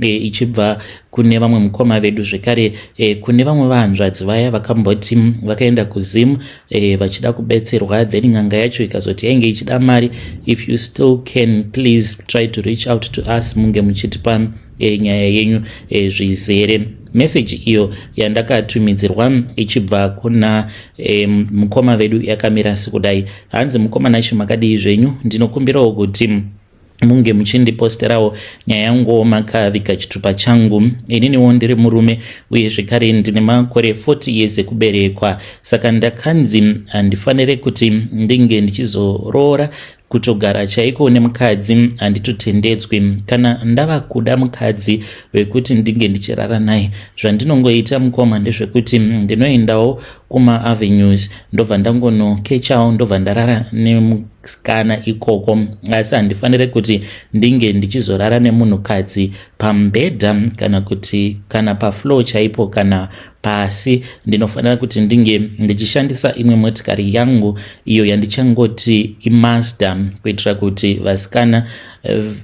e, ichibva kune vamwe mukoma vedu zvekare e, kune vamwe vahanzvadzi vaya vakamboti vakaenda kuzim e, vachida kubetserwa then n'anga yacho ikazoti yainge ichida mari if you still can please try to reach out to us munge muchitipa e, nyaya yenyu e, zvizere meseji iyo yandakatumidzirwa ichibva kuna e, mukoma vedu yakamira sekudai hanzi mukoma nacho makadii zvenyu ndinokumbirawo kuti munge muchindiposterawo nyaya yanguwo makaviga chitupa changu ininiwo ndiri murume uye zvekare ndine makore 40 years ekuberekwa saka ndakanzi handifanire kuti ndinge ndichizoroora kutogara chaiko nemukadzi handitotendedzwi kana ndava kuda mukadzi wekuti ndinge ndichirara naye zvandinongoita mukoma ndezvekuti ndinoendawo kumaavenues ndobva ndangonokechawo ndobva ndarara nemukadzi kana ikoko asi handifanire kuti ndinge ndichizorara nemunhukadzi pambhedha kana kuti kana paflow chaipo kana pasi ndinofanira kuti ndinge ndichishandisa imwe motikari yangu iyo yandichangoti imaster kuitira kuti vasikana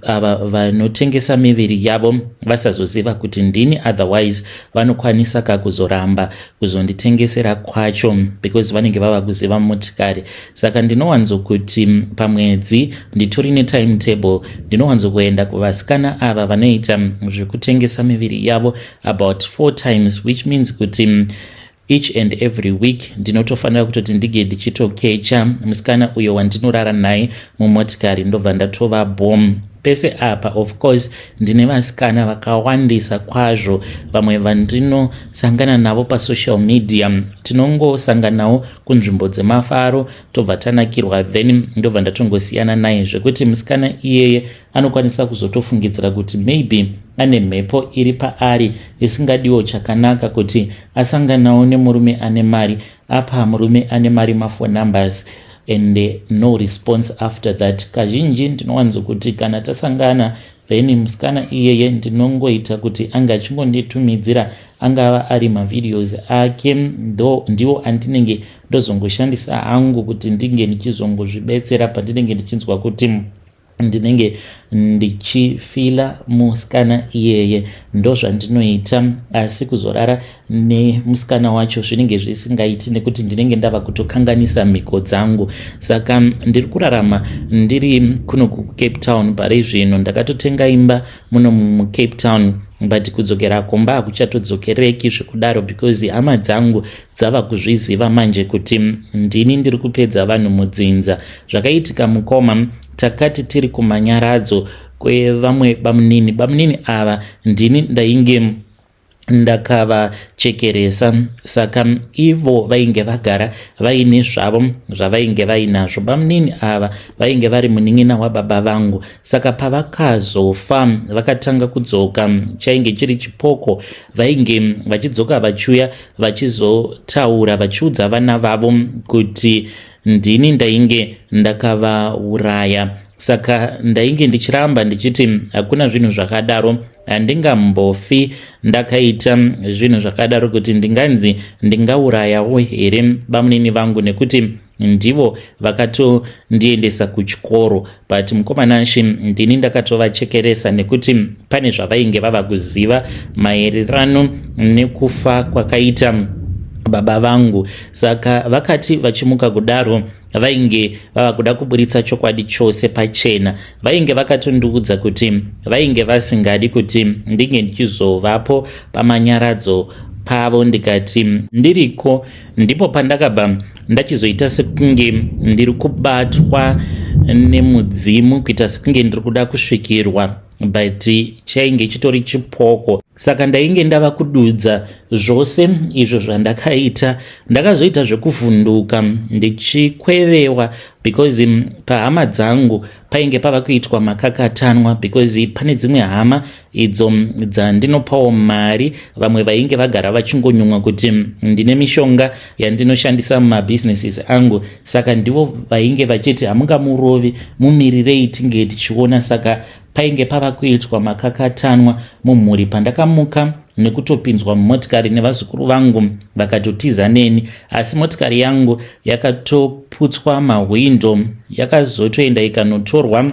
ava vanotengesa miviri yavo vasazoziva kuti ndini otherwise vanokwanisa ka kuzoramba kuzonditengesera kwacho because vanenge vava kuziva motikari saka ndinowanzo kuti pamwedzi nditori netimetable ndinowanzo kuenda kuvasikana ava vanoita zvekutengesa miviri yavo about four times which means kuti each and every week ndinotofanira kutoti ndige ndichitokecha musikana uyo wandinorara naye mumotikari ndobva ndatova bom pese apa of course ndine vasikana vakawandisa kwazvo vamwe vandinosangana navo pasocial media tinongosanganawo kunzvimbo dzemafaro tobva tanakirwa then ndobva ndatongosiyana naye zvekuti musikana iyeye anokwanisa kuzotofungidzira kuti maybe ane mhepo iri paari isingadiwo chakanaka kuti asanganawo nemurume ane mari apa murume ane mari mafo numbers and no response after that kazhinji ndinowanzo kuti kana tasangana then musikana iyeye ndinongoita kuti anga achingonditumidzira angava ari mavideos ake ndo ndiwo andinenge ndozongoshandisa hangu kuti ndinge ndichizongozvibetsera pandinenge ndichinzwa kuti ndinenge ndichifila musikana iyeye ndozvandinoita asi kuzorara nemusikana wacho zvinenge zvisingaiti nekuti ndinenge ndava kutokanganisa mhiko dzangu saka ndiri kurarama ndiri kuno kucape town pari zvino ndakatotenga imba muno mucape town but kudzokera kumba hakuchatodzokereki zvekudaro because hama dzangu dzava kuzviziva manje kuti ndini ndiri kupedza vanhu mudzinza zvakaitika mukoma takati tiri kumanyaradzo kwevamwe bamunini bamunini ava ndini ndainge ndakavachekeresa saka ivo vainge vagara vaine zvavo zvavainge vainazvo bamunini ava vainge vari munin'ina wababa vangu saka pavakazofa vakatanga kudzoka chainge chiri chipoko vainge vachidzoka vachiuya vachizotaura vachiudza vana vavo kuti ndini ndainge ndakavauraya saka ndainge ndichiramba ndichiti hakuna zvinhu zvakadaro handingambofi ndakaita zvinhu zvakadaro kuti ndinganzi ndingaurayawo here bamunini vangu nekuti ndivo vakatondiendesa kuchikoro but mukomana nshi ndini ndakatovachekeresa nekuti pane zvavainge vava kuziva maererano nekufa kwakaita baba vangu saka vakati vachimuka kudaro vainge vava kuda kuburitsa chokwadi chose pachena vainge vakatondiudza kuti vainge vasingadi kuti ndinge ndichizovapo pamanyaradzo pavo ndikati ndiriko ndipo pandakabva ndachizoita sekunge ndiri kubatwa nemudzimu kuita sekunge ndiri kuda kusvikirwa but chainge chitori chipoko saka ndainge ndava kududza zvose izvo zvandakaita ndakazoita zvekuvhunduka ndichikwevewa because pahama dzangu painge pava kuitwa makakatanwa because pane dzimwe hama idzo dzandinopawo mari vamwe vainge vagara vachingonyumwa kuti ndine mishonga yandinoshandisa mumabusinesses angu saka ndivo vainge vachiti hamungamurovi mumirirei tinge tichiona saka painge pava kuitwa makakatanwa mumhuri pandakamuka nekutopinzwa mumotikari nevazukuru vangu vakatotiza neni asi motikari yangu yakatoputswa mahwindo yakazotoenda ikanotorwa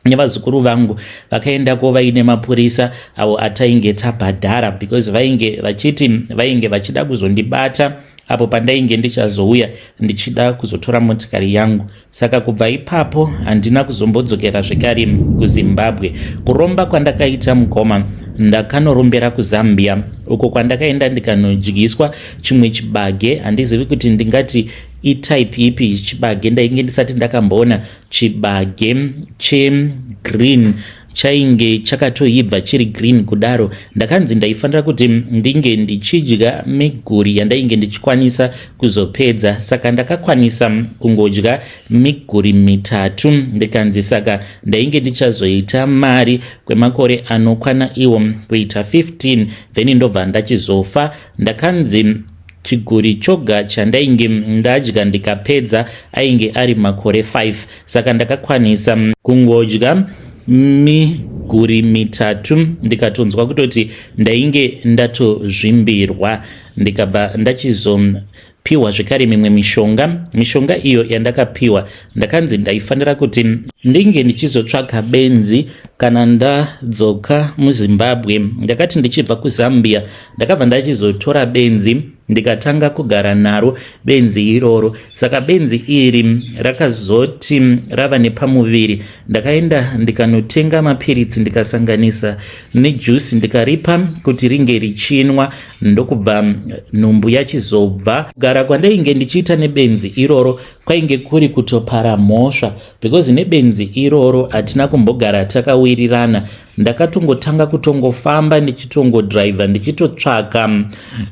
nevazukuru vangu vakaendako vaine mapurisa avo atainge tabhadhara because vainge vachiti vainge vachida kuzondibata apo pandainge ndichazouya ndichida kuzotora motikari yangu saka kubva ipapo handina kuzombodzokera zvekare kuzimbabwe kuromba kwandakaita mukoma ndakanorombera kuzambia uko kwandakaenda ndikanodyiswa chimwe chibage handizivi kuti ndingati itype ipi chibage ndainge ndisati ndakamboona chibage chegreen che chainge chakatoibva chiri green kudaro ndakanzi ndaifanira kuti ndinge ndichidya miguri yandainge ndichikwanisa kuzopedza saka ndakakwanisa kungodya miguri mitatu ndikanzi saka ndainge ndichazoita mari kwemakore anokwana iwo kuita 15 then ndobva ndachizofa ndakanzi Chiguri choga chandainge ndadya ndikapedza ainge ari makore 5 saka ndakakwanisa kungodya miguri mitatu ndikatonzwa kutoti ndainge ndatozvimbirwa ndikabva ndachizopiwa zvekare mimwe mishonga mishonga iyo yandakapiwa ndakanzi ndaifanira kuti ndinge ndichizotsvaga benzi kana ndadzoka muzimbabwe ndakati ndichibva kuzambia ndakabva ndachizotora benzi ndikatanga kugara naro benzi iroro saka benzi iri rakazoti rava nepamuviri ndakaenda ndikanotenga mapiritsi ndikasanganisa nejusi ndikaripa kuti ringe richinwa ndokubva nhumbu yachizobva kugara kwandainge ndichiita nebenzi iroro kwainge kuri kutopara mhosva because nebenzi iroro hatina kumbogara takawirirana ndakatongotanga kutongofamba ndichitongodriver ndichitotsvaka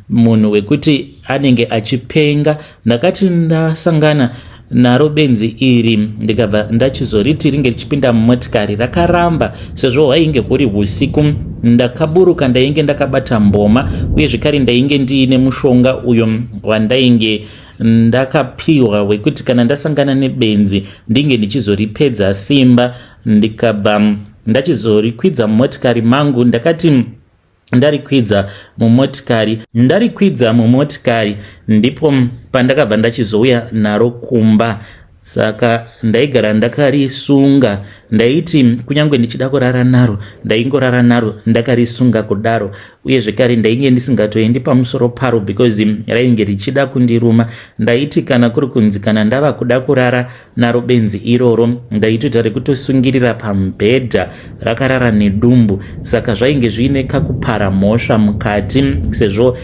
munhu wekuti anenge achipenga ndakati ndasangana naro benzi iri ndikabva ndachizoriti ringe richipinda mumotikari rakaramba sezvo hwainge huri husiku ndakaburuka ndainge ndakabata mboma uye zvekare ndainge ndiine mushonga uyo wandainge ndakapiwa wekuti kana ndasangana nebenzi ndinge ndichizoripedza simba ndikabva ndachizorikwidza mumotikari mangu ndakati ndarikwidza mumotikari ndarikwidza mumotikari ndipo pandakabva ndachizouya naro kumba saka ndaigara ndakarisunga ndaiti kunyange ndichida kurara naro ndaingorara naro ndakarisunga kudaro uye zvekare ndainge ndisingatoendi pamusoro paro because rainge richida kundiruma ndaiti kana kuri kunzi kana ndava kuda kurara naro benzi iroro ndaitoita rekutosungirira pamubhedha rakarara nedumbu saka zvainge zviine kakupara mhosva mukati sezvo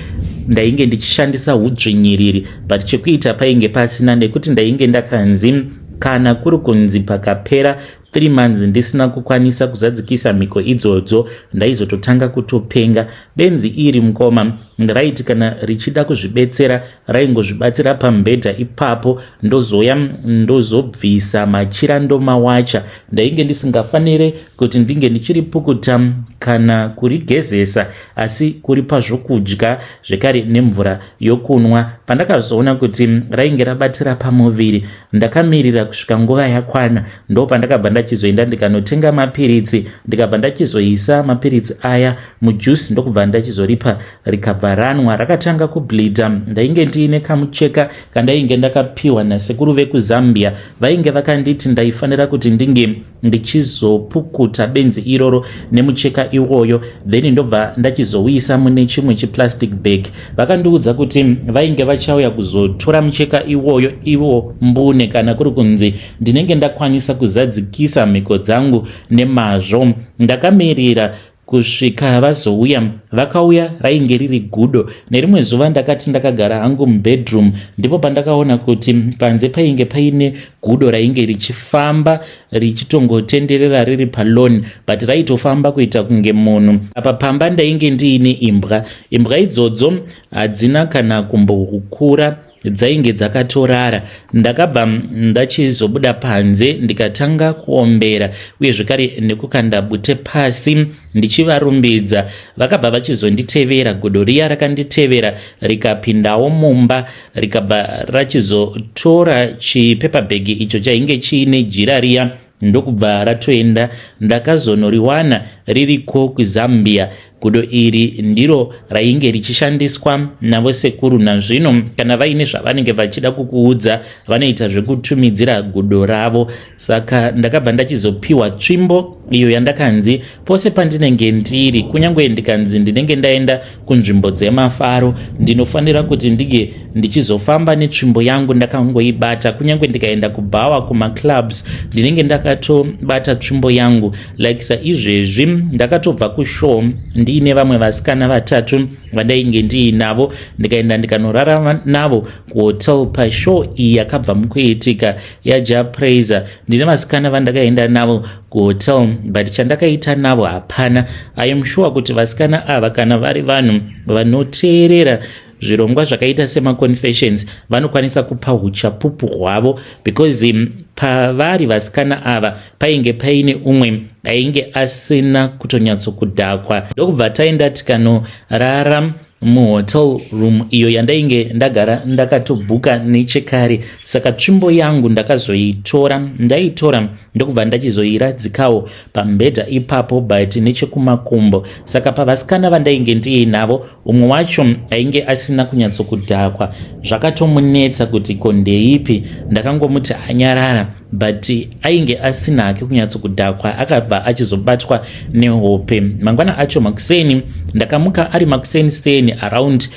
ndainge ndichishandisa udzvinyiriri but chekuita painge pasina nekuti ndainge ndakanzi kana kuri kunzi pakapera 3 months ndisina kukwanisa kuzadzikisa mhiko idzodzo ndaizototanga kutopenga benzi iri mukoma raiti kana richida kuzvibetsera raingozvibatsira pambhedha ipapo ndozouya ndozobvisa machira ndomawacha ndainge ndisingafanire kuti ndinge ndichiri pukuta kana kurigezesa asi kuri pazvokudya zvekare nemvura yokunwa pandakazoona kuti rainge rabatira pamuviri ndakamirira kusvika nguva yakwana ndopandakabva ndachizoenda ndikanotenga mapiritsi ndikabva ndachizoisa mapiritsi aya mujuice ndokubva ndachizoripa rikabva ranwa rakatanga kubleeda ndainge ndiine kamucheka kandainge ndakapiwa nasekuru vekuzambia vainge vakanditi ndaifanira kuti ndinge ndichizopukuta benzi iroro nemucheka iwoyo then ndobva ndachizouisa mune chimwe chiplastic bag vakandiudza kuti vainge vachauya kuzotora mucheka iwoyo ivo mbune kana kuri kunzi ndinenge ndakwanisa kuzadzikisa mhiko dzangu nemazvo ndakamirira kusvika vazouya vakauya rainge riri gudo nerimwe zuva ndakati ndakagara hangu mubedroom ndipo pandakaona kuti panze painge paine gudo rainge richifamba richitongotenderera riri palon but raitofamba kuita kunge munhu apa pamba ndainge ndiine imbwa imbwa idzodzo hadzina kana kumbokura dzainge dzakatorara ndakabva ndachizobuda panze ndikatanga kuombera uye zvekare nekukanda bute pasi ndichivarumbidza vakabva vachizonditevera godo riya rakanditevera rikapindawo mumba rikabva rachizotora chipepabhegi icho chainge chiine jira riya ndokubva ratoenda ndakazonoriwana ririko kuzambia gudo iri ndiro rainge richishandiswa navo sekuru nazvino kana vaine zvavanenge vachida kukuudza vanoita zvekutumidzira gudo ravo saka ndakabva ndachizopiwa tsvimbo iyo yandakanzi Pose pandinenge ndiri, kunyange ndikanzi ndinenge ndaenda kunzvimbo dzemafaro, ndinofanira kuti ndinge ndichizofamba netsvimbo yangu ndakangoibata. Kunyange ndikaenda kubhawa, kumaclubs, ndinenge ndakatobata tsvimbo yangu. Like saizvezvi, ndakatobva kushow ndiine vamwe vasikana vatatu vandainge ndiinavo, ndikaenda ndikanorara navo kuhotel pashow iyi yakabva mukuitika yaJah Prayzah. Ndine vasikana vandakaenda navo kuhotel but chandakaita navo hapana i am sure kuti vasikana ava kana vari vanhu vanoteerera zvirongwa zvakaita semaconfessions vanokwanisa kupa uchapupu hwavo because um, pavari vasikana ava painge paine umwe ainge asina kutonyatsokudhakwa ndokubva taenda tikanorara muhotel room iyo yandainge ndagara ndakatobhuka nechekare saka tsvimbo yangu ndakazoitora ndaitora ndokubva ndachizoiradzikawo pambhedha ipapo but nechekumakumbo saka pavasikana vandainge ndiinavo umwe wacho ainge asina kunyatsokudhakwa zvakatomunetsa kuti ko ndeipi ndakangomuti anyarara but ainge asina hake kunyatsokudhakwa akabva achizobatwa nehope mangwana acho makuseni ndakamuka ari makuseni seni around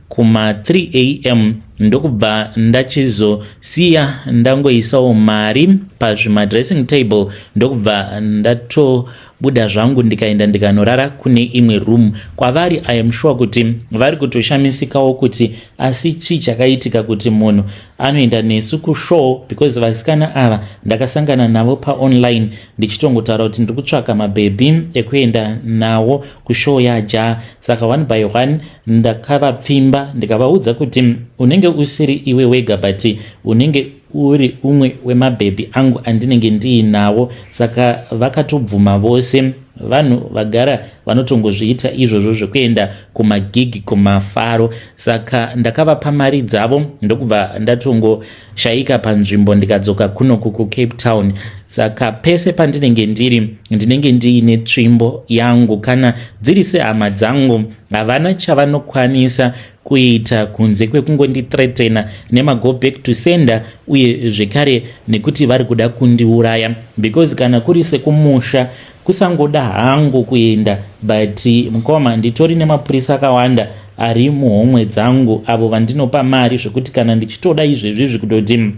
kuma 3 am ndokubva ndachizosiya ndangoisawo mari pazvimadressing table ndokubva ndato buda zvangu ndikaenda ndikanorara kune imwe room kwavari i am sure kuti vari kutoshamisikawo kuti asi chii chakaitika kuti munhu anoenda nesu kushow because vasikana ava ndakasangana navo paonline ndichitongotaura kuti ndiri kutsvaka mabhebhi ekuenda nawo kushow yaja saka one by one ndakavapfimba ndikavaudza kuti unenge usiri iwe wega but unenge uri umwe wemabhebhi angu andinenge ndiinawo saka vakatobvuma vose vanhu vagara vanotongozviita izvozvo zvekuenda kumagigi kumafaro saka ndakavapa mari dzavo ndokubva ndatongoshaika panzvimbo ndikadzoka kunoku kucape town saka pese pandinenge ndiri ndinenge ndiine tsvimbo yangu kana dziri sehama dzangu havana chavanokwanisa kuita kunze kwekungonditretena nemago back to sender uye zvekare nekuti vari kuda kundiuraya because kana kuri sekumusha Kusangoda hangu kuenda but mkoma nditori nemapurisa akawanda ari muhomwe dzangu avo vandinopa mari zvekuti kana ndichitoda izvezvi zvekutoti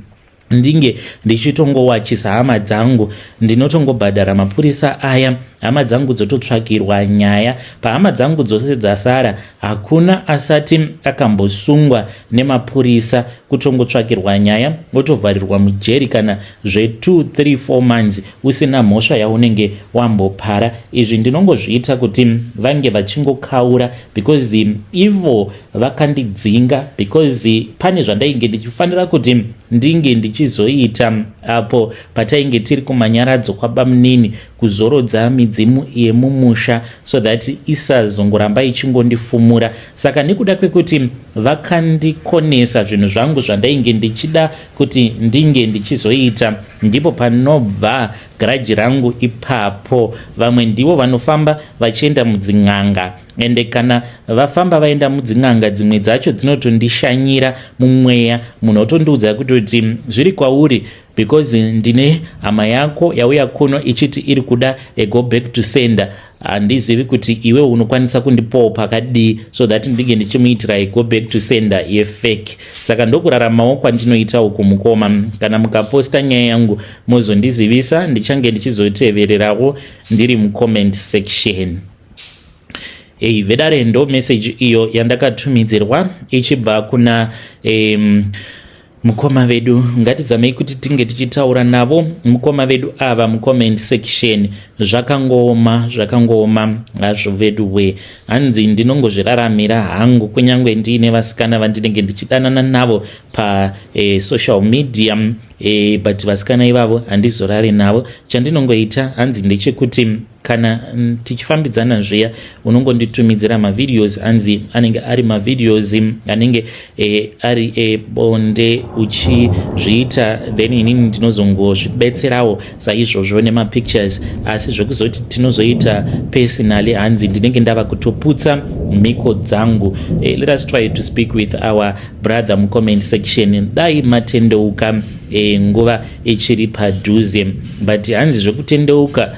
ndinge ndichitongowachisa hama dzangu ndinotongobhadhara mapurisa aya hama dzangu dzototsvakirwa nyaya pahama dzangu dzose dzasara Hakuna asati akambosungwa nemapurisa kutongotsvakirwa nyaya wotovharirwa mujeri kana zve 2 3 4 months usina mhosva yaunenge wambopara izvi ndinongozviita kuti vange vachingokaura because ivo vakandidzinga because pane zvandainge ndichifanira kuti ndinge ndichizoita apo patainge tiri kumanyaradzo kwabamunini kuzorodza midzimu yemumusha so that isazongoramba ichingondifumura saka nekuda kwekuti vakandikonesa zvinhu zvangu zvandainge ndichida kuti ndinge ndichizoita ndipo panobva garaji rangu ipapo vamwe ndivo vanofamba vachienda mudzin'anga ende kana vafamba vaenda mudzin'anga dzimwe dzacho dzinotondishanyira mumweya munhu otondiudza kutoti zviri kwauri because ndine hama yako yauya kuno ichiti iri kuda a go back to sender handizivi kuti iwe unokwanisa kundipawo pakadii so that ndinge ndichimuitira a go back to sender yefake saka ndokuraramawo kwandinoita uku mukoma kana mukaposta nyaya yangu mozondizivisa ndichange ndichizotevererawo ndiri mucomment section hey, vedare ndo message iyo yandakatumidzirwa ichibva kuna um, Mukoma vedu ngatizamei kuti tinge tichitaura navo mukoma vedu ava mucomment section zvakangooma zvakangooma hazvo vedu we hanzi ndinongozviraramira hangu kunyange ndiine vasikana vandinenge ndichidanana navo pasocial eh, media eh, but vasikana ivavo handizorari navo chandinongoita hanzi ndechekuti kana mm, tichifambidzana zviya unongonditumidzira mavideos anzi anenge ari mavideos mm, anenge e, ari ebonde eh, uchizviita then inini ndinozongozvibetserawo saizvozvo nemapictures asi zvekuzoti tinozoita personally hanzi ndinenge ndava kutoputsa mhiko dzangu e, let us try to speak with our brother mucomment section dai matendeuka e, nguva ichiri padhuze but hanzi zvekutendeuka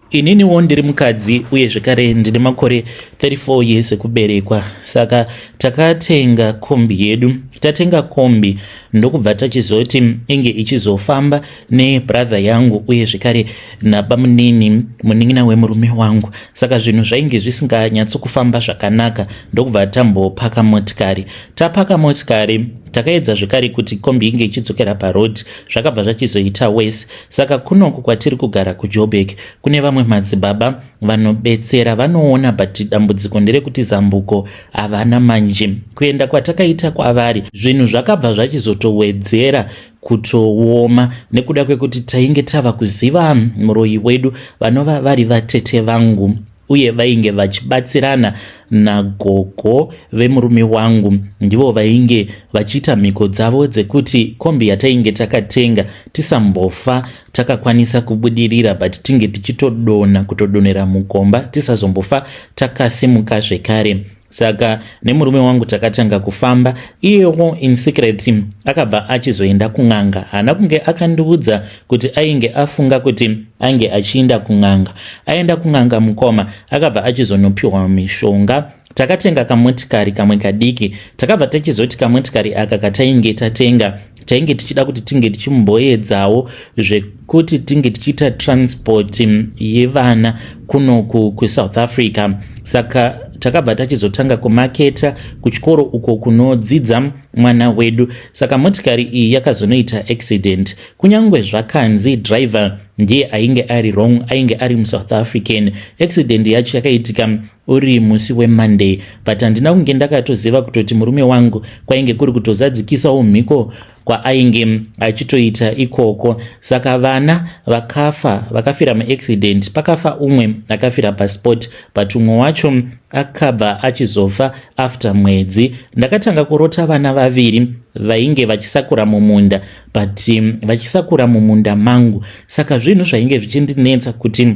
Ininiwo ndiri mukadzi uye zvekare ndine makore 34 years ekuberekwa saka takatenga kombi yedu. Tatenga kombi ndokubva tachizoti inge ichizofamba nebrother yangu uye zvekare nabamunini munin'ina wemurume wangu saka zvinhu zvainge zvisinganyatsokufamba zvakanaka ndokubva tambopaka motikari. Tapaka motikari takaedza zvekare kuti kombi inge ichidzokera paroad zvakabva zvachizoita worse Saka kunoku kwatiri kugara kuJoburg kune vamwe madzibaba vanobetsera vanoona but dambudziko nderekuti zambuko havana manje. Kuenda kwatakaita kwavari zvinhu zvakabva zvachizotowedzera kutooma nekuda kwekuti tainge tava kuziva muroyi wedu vanova vari vatete vangu. uye vainge vachibatsirana nagogo vemurume wangu ndivo vainge vachiita mhiko dzavo dzekuti kombi yatainge takatenga tisambofa takakwanisa kubudirira but tinge tichitodona kutodonera mukomba tisazombofa takasimuka zvekare saka nemurume wangu takatanga kufamba iyewo in secret akabva achizoenda kun'anga haana kunge akandiudza kuti ainge afunga kuti ainge achiinda kun'anga aenda kun'anga mukoma akabva achizonopiwa mishonga takatenga kamotikari kamwe kadiki takabva tachizoti kamotikari aka katainge tatenga tainge tichida kuti tinge tichimboedzawo zvekuti tinge tichiita transport yevana kunoku kusouth africa saka takabva tachizotanga kumaketa kuchikoro uko kunodzidza mwana wedu saka motikari iyi yakazonoita accident kunyange zvakanzi driver ndiye ainge ari wrong ainge ari musouth african accident yacho yakaitika uri musi wemonday but handina kunge ndakatoziva kutoti murume wangu kwainge kuri kutozadzikisawo mhiko kwaainge achitoita ikoko saka vana vakafa vakafira muaccident pakafa umwe akafira pasport but umwe wacho akabva achizofa after mwedzi ndakatanga kurota vana vaviri vainge vachisakura mumunda but um, vachisakura mumunda mangu saka zvinhu zvainge zvichindinetsa kuti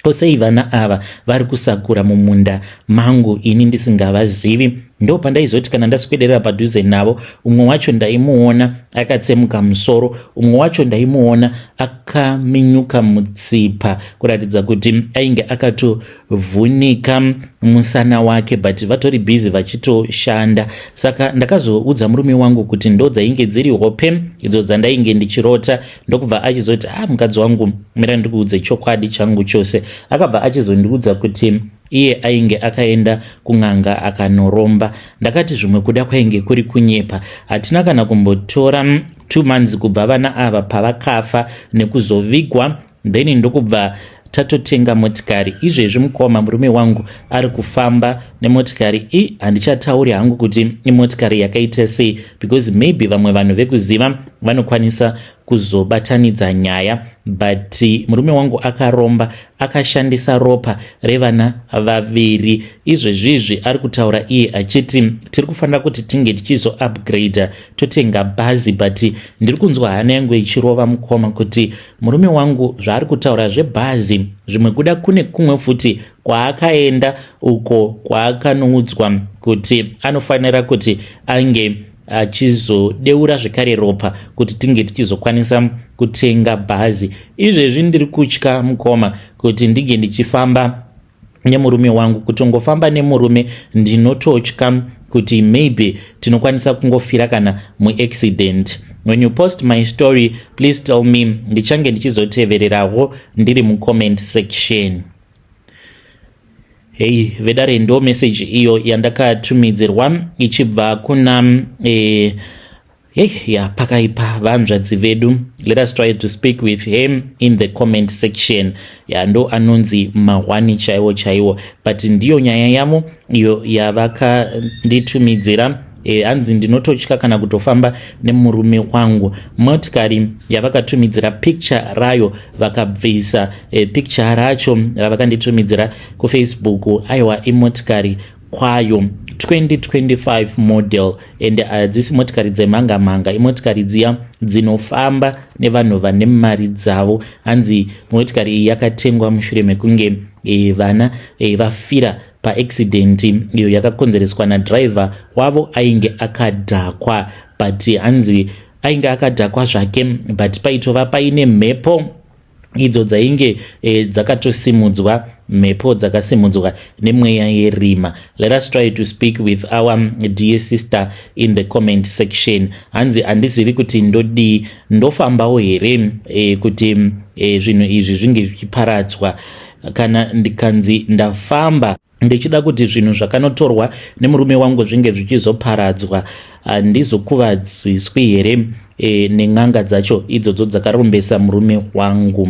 Ko sei vana ava vari kusakura mumunda mangu ini ndisingavazivi? Ndo pandaizoti kana ndaswederera padhuze navo, umwe wacho ndaimuona akatsemuka musoro, umwe wacho ndaimuona akaminyuka mutsipa kuratidza kuti ainge akatovhunika musana wake, but vatori busy vachitoshanda. Saka ndakazoudza murume wangu kuti ndo dzainge dziri hope idzo dzandainge ndichirota ndokubva achizoti ha ah, mukadzi wangu mira ndikuudze chokwadi changu chose akabva achizondiudza kuti iye ainge akaenda kun'anga akanoromba ndakati zvimwe kuda kwainge kuri kunyepa hatina kana kumbotora mm, two months kubva vana ava pavakafa nekuzovigwa then ndokubva tatotenga motikari izvezvi mukoma murume wangu ari kufamba nemotikari i handichatauri hangu kuti imotikari yakaita sei because maybe vamwe vanhu vekuziva vanokwanisa kuzobatanidza nyaya but murume wangu akaromba akashandisa ropa revana vaviri izvezvizvi ari kutaura iye achiti tiri kufanira kuti tinge tichizo upgrader totenga bhazi but ndiri kunzwa hana yangu ichirova mukoma kuti murume wangu zvaari kutaura zvebhazi zvimwe kuda kune kumwe futi kwaakaenda uko kwaakanoudzwa kuti anofanira kuti ange achizodeura zvekare ropa kuti tinge tichizokwanisa kutenga bhazi izvezvi ndiri kutya mukoma kuti ndinge ndichifamba nemurume wangu kutongofamba nemurume ndinototya kuti maybe tinokwanisa kungofira kana muaccident when you post my story please tell me ndichange ndichizotevererawo ndiri mucomment section hei vedare ndo message iyo yandakatumidzirwa ichibva kuna eh, Hey, ya pakaipa vanzvadzi vedu let us try to speak with him in the comment section ya ndo anonzi mahwani chaiwo chaiwo but ndiyo nyaya yavo iyo yavakanditumidzira e, hanzi ndinototya kana kutofamba nemurume wangu motikari yavakatumidzira picture rayo vakabvisa e, picture racho ravakanditumidzira kufacebook aiwa imotikari kwayo 2025 model ende hadzisi motikari dzemhanga mhanga imotikari dziya dzinofamba nevanhu vane mari dzavo hanzi motikari iyi yakatengwa mushure mekunge e, vana e, vafira paaccident iyo yakakonzereswa nadriver wavo ainge akadhakwa but hanzi ainge akadhakwa zvake but paitova paine mhepo idzo dzainge e, dzakatosimudzwa mhepo dzakasimudzwa nemweya yerima let us try to speak with our um, dear sister in the comment section hanzi handizivi kuti ndodii ndofambawo here e, kuti e, zvinhu izvi zvinge zvichiparadzwa kana ndikanzi ndafamba ndichida kuti zvinhu zvakanotorwa nemurume wangu zvinge zvichizoparadzwa handizokuvadziswi here e, nen'anga dzacho idzodzo dzakarombesa murume wangu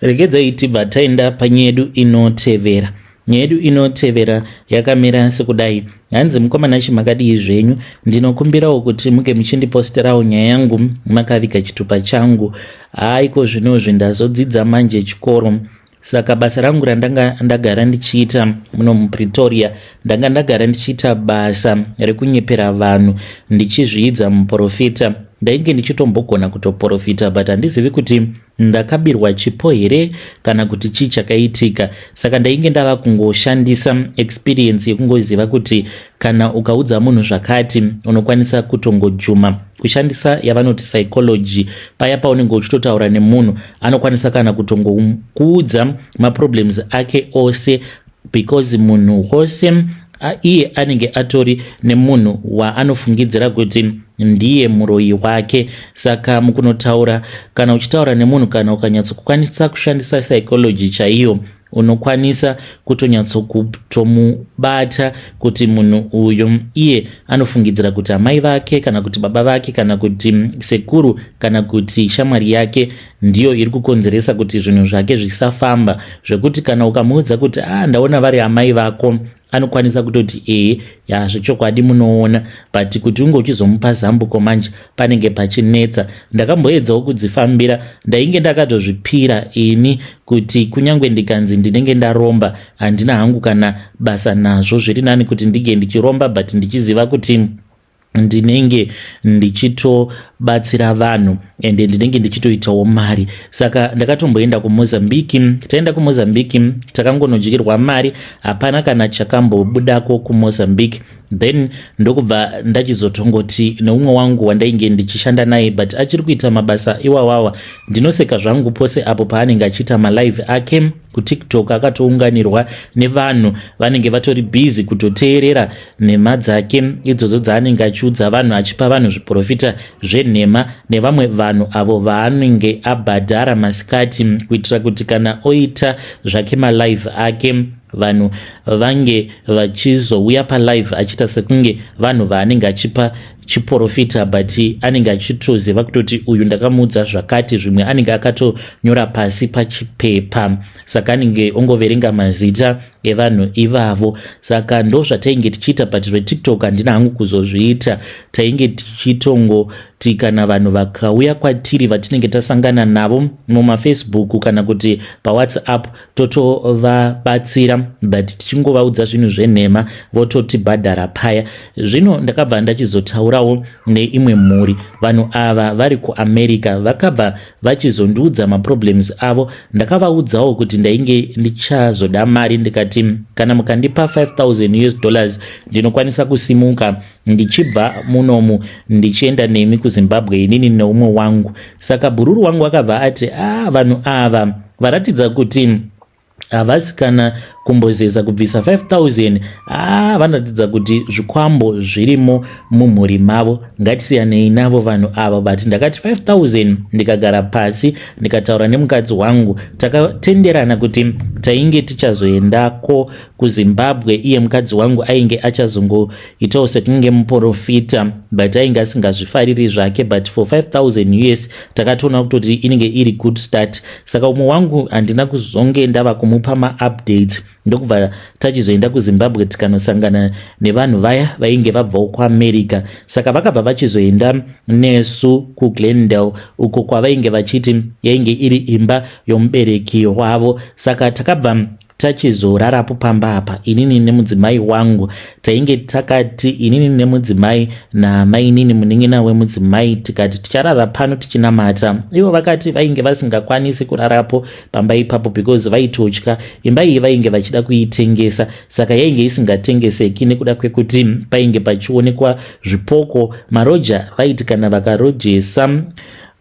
regedzai tibva taenda panyaya yedu inotevera nyaya yedu inotevera yakamira sekudai hanzi mukomana chi makadii zvenyu ndinokumbirawo kuti muke muchindiposterawo nyaya yangu makaviga chitupa changu haaiko zvinozvi ndazodzidza manje chikoro saka basa rangu randanga ndagara ndichiita muno mupretoria ndanga ndagara ndichiita basa rekunyepera vanhu ndichizviidza muprofita ndainge ndichitombogona kutoprofita but handizivi kuti ndakabirwa chipo here kana kuti chii chakaitika saka ndainge ndava kungoshandisa experience yekungoziva kuti kana ukaudza munhu zvakati unokwanisa kutongojuma kushandisa yavanoti psychology paya paunenge uchitotaura nemunhu anokwanisa kana kutongokuudza maproblems ake ose because munhu wose iye anenge atori nemunhu waanofungidzira kuti ndiye muroyi wake saka mukunotaura kana uchitaura nemunhu kana ukanyatsokukwanisa kushandisa psychology chaiyo unokwanisa kutonyatsokutomubata kuti munhu uyo iye anofungidzira kuti amai vake kana kuti baba vake kana kuti sekuru kana kuti shamwari yake ndiyo iri kukonzeresa kuti zvinhu zvake zvisafamba zvekuti kana ukamuudza kuti a ah, ndaona vari amai vako anokwanisa kutoti ee ya zvechokwadi munoona but kuti unge uchizomupa zambuko manje panenge pachinetsa ndakamboedzawo kudzifambira ndainge ndakatozvipira ini kuti kunyange ndikanzi ndinenge ndaromba handina hangu kana basa nazvo zviri nani kuti ndinge ndichiromba but ndichiziva kuti ndinenge ndichitobatsira vanhu and ndinenge ndichitoitawo mari saka ndakatomboenda kumozambique taenda kumozambique takangonodyirwa mari hapana kana chakambobudako kumozambique then ndokubva ndachizotongoti neumwe wangu wandainge ndichishanda naye but achiri kuita mabasa iwawawa ndinoseka zvangu pose apo paanenge achiita malive ake kutiktok akatounganirwa nevanhu vanenge vatori bhizi kutoteerera nhema dzake idzodzo dzaanenge achiudza vanhu achipa vanhu zviprofita zvenhema nevamwe vanhu avo vaanenge abhadhara masikati kuitira kuti kana oita zvake malive ake vanhu vange vachizouya palive achiita sekunge vanhu vaanenge achipa chiprofita but anenge achitoziva kutoti uyu ndakamuudza zvakati zvimwe anenge akatonyora pasi pachipepa saka anenge ongoverenga mazita evanhu ivavo saka ndo zvatainge tichiita but zvetiktok handina hangu kuzozviita tainge tichitongoti kana vanhu vakauya kwatiri vatinenge tasangana navo mumafacebook kana kuti pawhatsapp totovabatsira but tichingovaudza zvinhu zvenhema vototibhadhara paya zvino ndakabva ndachizotaurawo neimwe mhuri vanhu ava vari kuamerica vakabva vachizondiudza maproblems avo ndakavaudzawo kuti ndainge ndichazoda mari ndikati kana mukandipa 5000 us dollars ndinokwanisa kusimuka ndichibva munomu ndichienda nemi kuzimbabwe inini neumwe wangu saka bhururu wangu akabva ati a ah, vanhu ava varatidza kuti havasi kana kumbozeza kubvisa 5000 aa ah, vanoratidza kuti zvikwambo zvirimo mumhuri mavo ngatisiyanei navo vanhu ava but ndakati 5000 ndikagara pasi ndikataura nemukadzi wangu takatenderana kuti tainge tichazoendako kuzimbabwe iye mukadzi wangu ainge achazongo itawo sekunge muporofita but ainge asingazvifariri zvake but for 5000 us takatoona kutoti inenge iri good start saka umwe wangu handina kuzonge ndava kumupa maupdates ndokubva tachizoenda kuzimbabwe tikanosangana nevanhu vaya vainge vabvawo kuamerica saka vakabva vachizoenda nesu kuglendale uko kwavainge vachiti yainge iri imba yomubereki wavo saka takabva tachizorarapo pamba apa inini nemudzimai wangu tainge takati inini nemudzimai namainini munin'ina wemudzimai tikati ticharara pano tichinamata ivo vakati vainge vasingakwanisi kurarapo pamba ipapo because vaitotya imba iyi vainge vachida kuitengesa saka yainge isingatengeseki nekuda kwekuti painge pachionekwa zvipoko maroja vaiti kana vakarojesa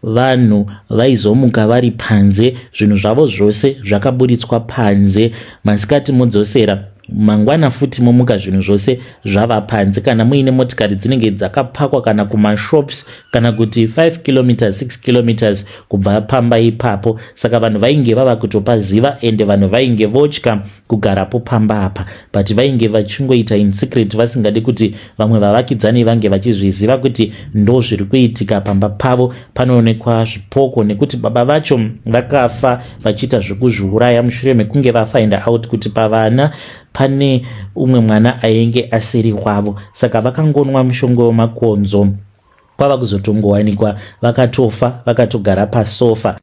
Vanhu vaizomuka vari panze, zvinhu zvavo zvose zvakaburitswa panze. Masikati modzosera, mangwana futi momuka zvinhu zvose zvava panze. Kana muine motikari dzinenge dzakapakwa kana kumashops kana kuti 5 kilometers 6 kilometers kubva pamba ipapo. Saka vanhu vainge vava kutopaziva ende vanhu vainge votya. kugarapo pamba apa but vainge vachingoita in secret vasingadi kuti vamwe vavakidzani vange vachizviziva kuti ndo zviri kuitika pamba pavo panoonekwa zvipoko nekuti baba vacho vakafa vachiita zvekuzviuraya mushure mekunge vafinda out kuti pavana pane umwe mwana ainge asiri wavo saka vakangonwa mushongo wemakonzo kwava kuzotongowanikwa vakatofa vakatogara pasofa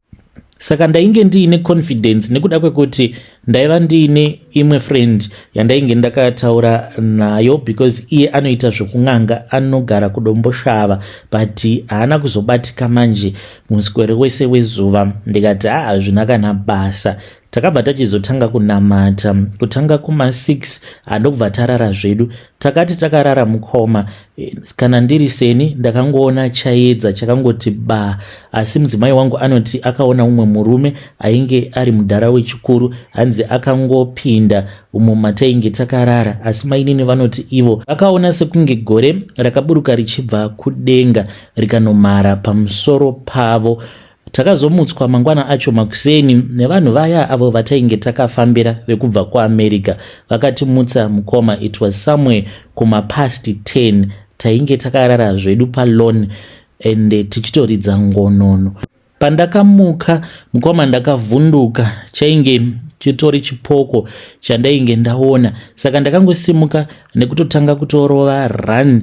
saka ndainge ndiine confidence nekuda kwekuti ndaiva ndiine imwe friend yandainge ndakataura nayo because iye anoita zvekun'anga anogara kudomboshava but haana kuzobatika manje muswere wese wezuva ndikati haa hazvina kana basa takabva tachizotanga kunamata kutanga kuma 6 handokubva tarara zvedu takati takarara mukoma eh, kana ndiri seni ndakangoona chayedza chakangoti ba asi mudzimai wangu anoti akaona umwe murume ainge ari mudhara wechikuru hanzi akangopinda umo matainge takarara asi mainini vanoti ivo vakaona sekunge gore rakaburuka richibva kudenga rikanomhara pamusoro pavo Takazomutswa mangwana acho makuseni nevanhu vaya avo vatainge takafambira vekubva kuamerica vakatimutsa mukoma it was somewhere kumapast 10 tainge takarara zvedu palon ende tichitoridza ngonono pandakamuka mukoma ndakavhunduka chainge chitori chipoko chandainge ndaona saka ndakangosimuka nekutotanga kutorova run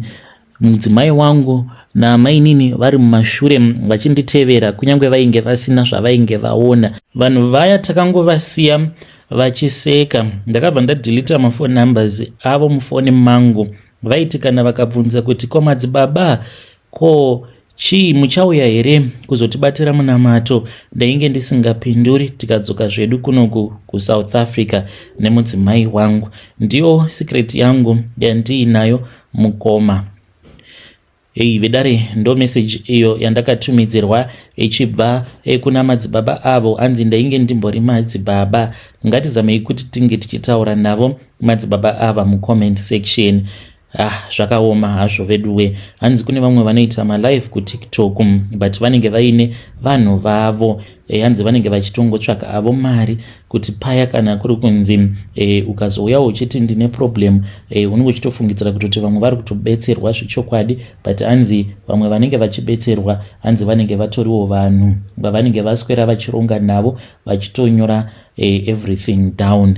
Mudzimai wangu namainini vari mumashure vachinditevera kunyange vainge vasina zvavainge vaona. Vanhu vaya takangovasiya vachiseka. Ndakabva ndadilita mafone numbers avo mufone mangu. Vaiti kana vakabvunza kuti komadzibaba ko Chii, muchauya here kuzotibatira munamato? Ndainge ndisingapinduri tikadzoka zvedu kunoku kuSouth Africa nemudzimai wangu. Ndiyo secret yangu yandiinayo mukoma. Hei vedare, ndo message iyo yandakatumidzirwa ichibva eh, kuna madzibaba avo anzi ndainge ndimbori madzibaba. Ngatizamei kuti tinge tichitaura navo madzibaba ava mucomment section. Ah, zvakaoma hazvo veduwe hanzi kune vamwe vanoita malive kutiktok mm, but vanenge vaine vanhu vavo e, hanzi vanenge vachitongotsvaka avo mari kuti paya kana kuri kunzi e, ukazouyawo uchiti ndine problem e, unenge uchitofungidzira kutoti vamwe vari kutobetserwa zvechokwadi but hanzi vamwe vanenge vachibetserwa hanzi vanenge vatoriwo vanhu vavanenge vaswera vachironga navo vachitonyora e, everything down